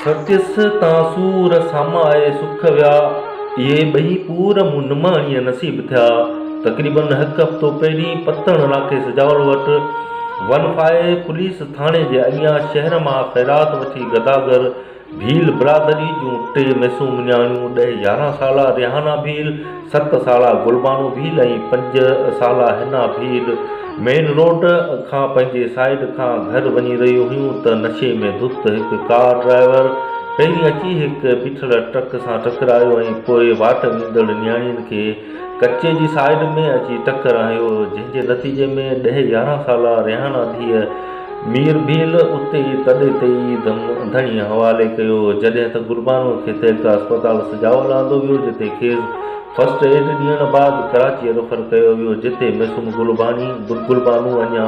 سچس تان سور سامه آئي سک ويا اهي ٻئي پور مون نماڻيء نصيب ٿيا. تقريبن هڪ هفتو پهرين پتڻ علاقي سجاول وٽ ون فائي پوليس ٿاڻي جي اڳيان شهر مان خيرات وٺي گداگر ڀيل برادري جون ٽي ميسون مڃاڻيون، ڏهه يارهن سالا ريحانه ڀيل، ست سالا گلبانو ڀيل ۽ پنج سالا حنا ڀيل مين روڊ کان پنهنجي سائيڊ کان گهر وڃي رهيون هيون ته نشي ۾ ڌت هڪ ڪار ڊرائيور پهرين اچي هڪ بيٺل ٽرڪ سان ٽڪرايو ۽ پوء واٽ ويندڙ نياڻين کي ڪچي جي سائيڊ ۾ اچي ٽڪر هنيو، جنهن جي نتيجي ۾ ڏهه يارهن سالا ريحانا ڌيء مير ڀيل اتي ئي تڏي تي ئي دم ڌڻي حوالي ڪيو، جڏهن ته گلبانوء کي تيرڪا اسپتال سجاول آندو ويو، جتي کيس فرسٽ ايڊ ڏيڻ بعد ڪراچيء ريفر ڪيو ويو، جتي معصوم گلبانوء اڃا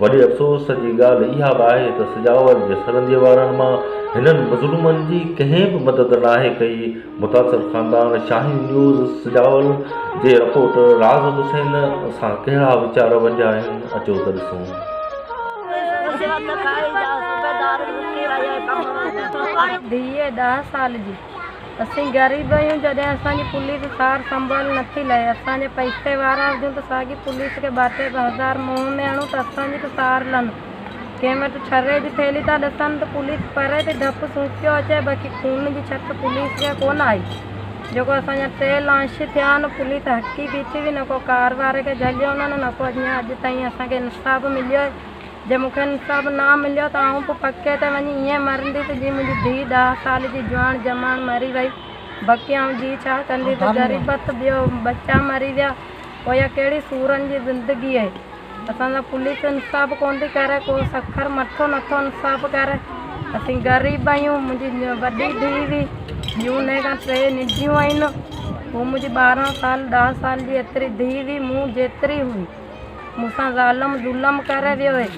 وڏي افسوس جي ڳالهه اها به آهي ته سجاول جي سرنديء وارن مان هنن مظلومن جي ڪنهن به مدد ناهي ڪئي. متاثر خاندان شاهين نيوز سجاول جي رپورٽر راز حسين سان ڪهڙا ويچار ونڊيا آهن اچو ته ڏسون. رشوت کائي جا صوبيدار لڪي رهيا ڪم. ڌيء ڏهه سال جي اسين غريب آهيون جڏهن اسان جي پوليس سار سنڀال نٿي لهي اسان جي پئسي وارا هجون ته ساڳي پوليس کي ٻاٽي ٻه هزار منهن ۾ هڻون ته اسان جي ته سار لهن ڪنهن وٽ ڇري جي ٿيلهي ٿا ڏسن ته پوليس پري تي ڌپ سونڪيو اچي باقي خون جي ڇٽ پوليس کي ڪونه آئي جيڪو اسان جا ٽي لانش ٿيا آهن پوليس هڪي بيٺي هئي نه ڪو ڪار واري کي جهليو هن نه ڪو اڃان اڄ تائين اسان کي انصاف مليو جي مون کي انصاف نه مليو ته آئون به پڪي تي وڃي ائين مرنديس جيئن منهنجي ڌيء ڏهه سال جي جوان جماڻ مري وئي. بقي آئون جي ڇا ڪنديس؟ غريبت ٻيو ٻچا مري ويا پويان ڪهڙي سورن جي زندگي اهي. اسان سان پوليس انصاف ڪونه ٿي ڪري ڪو سکر مٺو نٿو انصاف ڪري. اسين غريب آهيون منهنجي وڏي ڌيء هئي ٻيون انهي کان ٽي ننڍيون آهن هو منهنجي ٻارهن سال ڏهه سال جي ايتري ڌيء هئي مون جيتري هئي. مون سان ظالم ظلم ڪري ويو هي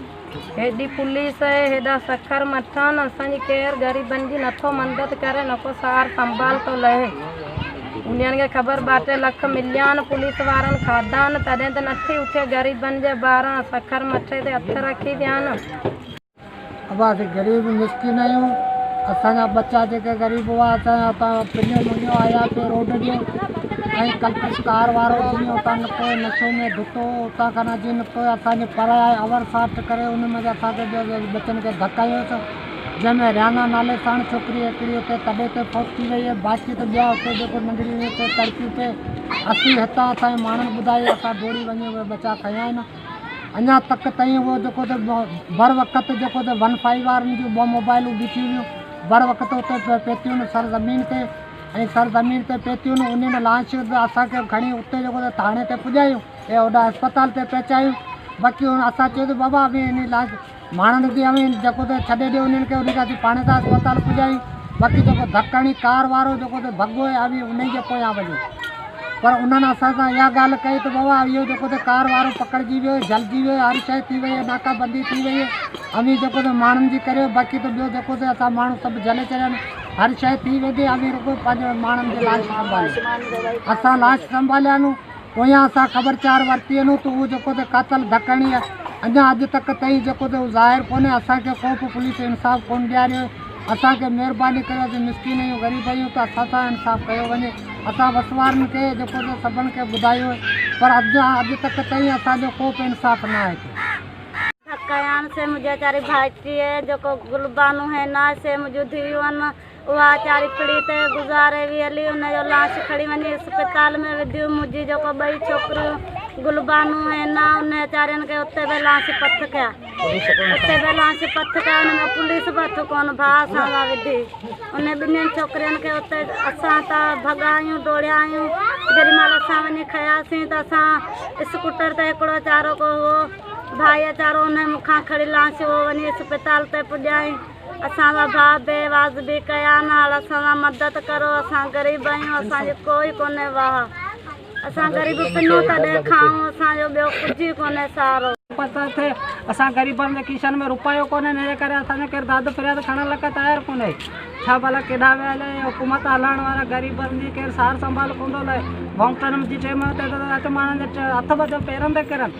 هيڏي پوليس هي هيڏا سکر مٺان اسان جي ڪير غريبن جي نٿو مندد ڪري نڪو سار سنڀال ٿو لهي انهن کي خبر ٻاٽي لک مليان پوليس وارن کاڌان تڏهن ته نٿي اٿي غريبن جي ٻاران سکر مٺي تي هٿ رکي ويان ابا اسين غريب مسڪين آهيون اسان جا ٻچا جيڪي غريب هئا اسان جا اتان پڃيو مڃيو آياسي روڊ جي ۽ ڪلپش ڪار وارو جيئن اتان نڪو نشي ۾ ڌتو هو اتان کان جيئن نڪو اسان جي پر آئي اور ساٺ ڪري ان مجي اسان کي جيئن ٻچن کي ڌڪ هنيو ته جنهن ۾ ريانا نالي ساڻ ڇوڪري هڪڙي اتي تڏي تي فوت ٿي وئي هي باقي ته ٻيا اتي جيڪو ننڍڙي اتي تڙپيون پئي اسين هتان اسان جي ماڻهن ٻڌايو اسان ڊوڙي وڃي اهي ٻچا کنيا آهن اڃا تڪ تائين اهو جيڪو ته بروقت جيڪو ته ون فائيو وارن جون ٻه موبائلون بيٺيون هيون بروقت اتي پهتيون سر زمين تي ۽ سر زمين تي پهتيون انهن لاش به اسان کي کڻي اتي جيڪو ته ٿاڻي تي پڄايون ۽ هوڏانهن اسپتال تي پهچايون باقي هن اسان چيو ته بابا ابي انهي لاش ماڻهن ڏکي اوهين جيڪو ته ڇڏي ڏيو انهن کي انهن کي اسين پاڻهين ٿا اسپتال پڄايون باقي جيڪو ڌڪ هڻي ڪار وارو جيڪو ته ڀڳو هي اوهين انهي جي پويان وڃو پر انهن اسان سان اها ڳالهه ڪئي ته بابا اهو جيڪو ته ڪار وارو پڪڙجي ويو هي جلجي ويو هي هر شيء ٿي وئي هي ناڪا بندي ٿي وئي هي اوهين جيڪو ته ماڻهن جي ڪريو باقي ته ٻيو جيڪو ته اسان ماڻهو سڀ جلي چريا آهن هر شيء ٿي ويندي اوهين رڳو پنهنجي ماڻهن جي لاش سنڀاليو اسان لاش سنڀاليا آهن پويان اسان خبرچار ورتي انهو ته اهو جيڪو ته قاتل ڌڪڻي اڃان اڄ تڪ تئين جيڪو ته اهو ظاهر ڪونهي اسان کي ڪو به پوليس انصاف ڪون ڏياريو هي اسان کي مهرباني ڪريو اسين مسڪين اهيون غريب اهيون ته اسان سان انصاف ڪيو وڃي اسان وسوارن کي جيڪو ته سڀن کي ٻڌايو هي پر اڄان اڄ تڪ تئين اسان جو ڪو به انصاف نه آهي ٿيو. ڌڪڻيان سي منهنجي ويچاري ڀائٽي هي جيڪو گلبانو هين آهي سي منهنجون ڌيئون هن. اها چاري ڦڙي ته گذاري وئي هلي، ان جو لاش کڻي وڃي اسپتال ۾ وڌيون، منهنجي جيڪو ٻئي ڇوڪريون گلبانو ۽ حنا ان چارين کي اتي به لانچ پٿ ڪيا، اتي به لانچ پٿ ڪيا، ان ۾ پوليس به هٿ ڪونه ڀاء اسان سان وڌي، انهن ٻنهين ڇوڪرين کي اتي اسان ته ڀڳايون ڊوڙيايون، جيڏيمهل اسان وڃي کنياسين ته اسان اسڪوٽر تي هڪڙو چارو ڪو هئو ڀائي چارو انهن مون کان کڻي لانچ اهو وڃي اسپتال تي پڄائين، اسان سان ڀاء بي واجبي ڪيا نال اسان سان مدد ڪرو اسان غريب آهيون اسان جي ڪوئي ڪونهي واهه اسان غريب پنون تڏهن کائون اسان جو ٻيو ڪجهه ئي ڪونهي سهارو. پتو ٿئي اسان غريبن جي کيسن ۾ روپيو ڪونهي ان جي ڪري اسان جو ڪير داد فرياد کڻڻ لئڪ تيار ڪونهي ڇا ڀلا ڪيڏانهن ويا هليا هي حڪومت هلائڻ وارا غريبن جي ڪير سار سنڀال ڪوندو لهي ووٽن جي ٽيم تي ته اچ ماڻهن جي هٿ ٻڌ پيرن تي ڪرن.